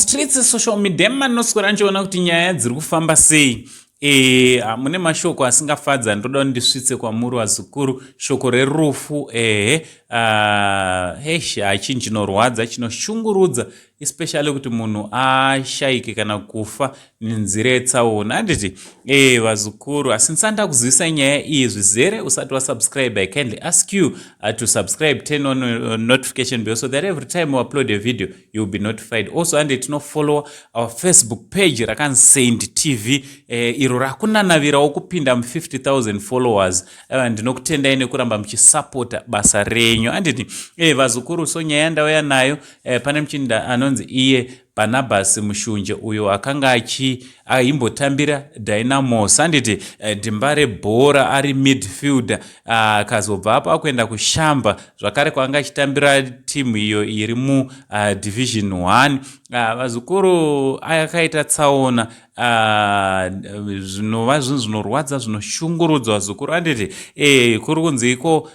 streets social media manoswera ndichiona kuti nyaya dziri kufamba sei e, mune mashoko asingafadza ndoda ndisvitse kwamuri vazukuru shoko rerufu ehe ah, hesh hachinhu chinorwadza chinoshungurudza especially kuti munhu ashaike kana kufa nenzira yetsaona handiti e, vazukuru asi ndisanda kuzivisa nyaya iyi zvizere usati wasubscribe i kindly ask you uh, to subscribe turn on uh, notification bell so that every time we upload a video you'll be notified also ande tinofollowa our facebook page rakanzi saint tv eh, iro rakunanavirawo kupinda mu50000 followers eh, ndinokutendai nekuramba muchisapota basa renyu anditi eh, vazukuru so nyaya yandauya nayo eh, pane muchinda anonzi iye barnabas mushunje uyo akanga achi aimbotambira dynamos anditi eh, dhimba rebhora ari midfielder akazobva apo akuenda kushamba zvakare kwaanga achitambira timu iyo iri mudivision uh, one uh, vazukuru akaita tsaona uh, zvinova zvinhu zvinorwadza zvinoshungurudza vazukuru anditi e, kuri kunzi iko uh,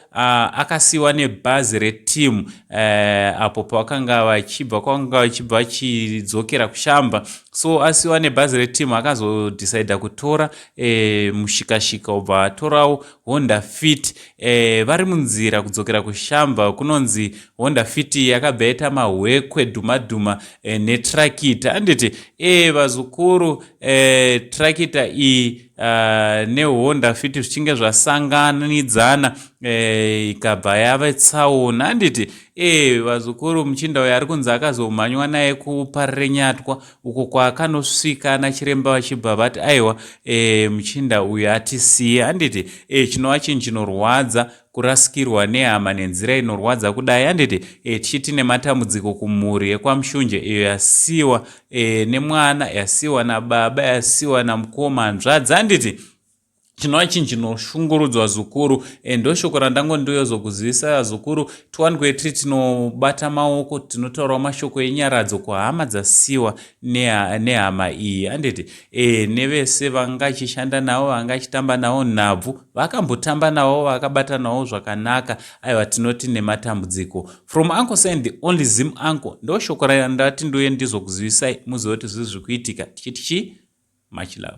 akasiyiwa nebhazi retimu uh, apo pavakanga vachibva kwavanga vachibva vachidzokera kushamba so asiyiwa nebhazi retimu akazodhisaidha kutora e, mushikashika obva atorawo honda fit e, vari munzira kudzokera kushamba kunonzi honda fit yakabva yaita mahwekwe dhumadhuma e, eh, netrakita anditi e, vazukuru e, trakita iyi Uh, nehonda fiti zvichinge zvasanganidzana e, ikabva e, yave tsaona handiti e, vazukuru muchinda uyo ari kunzi akazomhanywa naye kuparenyatwa uko kwaakanosvika nachiremba vachibva vati aiwa e, muchinda uyu atisiye handiti e, chinova chinhu chinorwadza kurasikirwa nehama nenzira inorwadza kudai handiti e, tichiti nematambudziko kumhuri yekwamushunje iyo yasiwa e, nemwana yasiwa nababa yasiwa namukoma hanzvadzi handiti chinova chinhu chinoshungurudzwa zukuru and ndoshoko randango ndoyozokuzivisa vazukuru tiwanikwe tiri tinobata maoko tinotaurawo mashoko enyaradzo kuhama dzasiwa nehama iyi handiti e nevese vanga achishanda navo vanga achitamba navo nhabvu vakambotamba navo vakabata navo zvakanaka aiwa tinoti nematambudziko from uncle sign the only zim uncle ndoshoko randati ndoye ndizokuzivisai muzive kuti zvizvi kuitika tichiti chii much love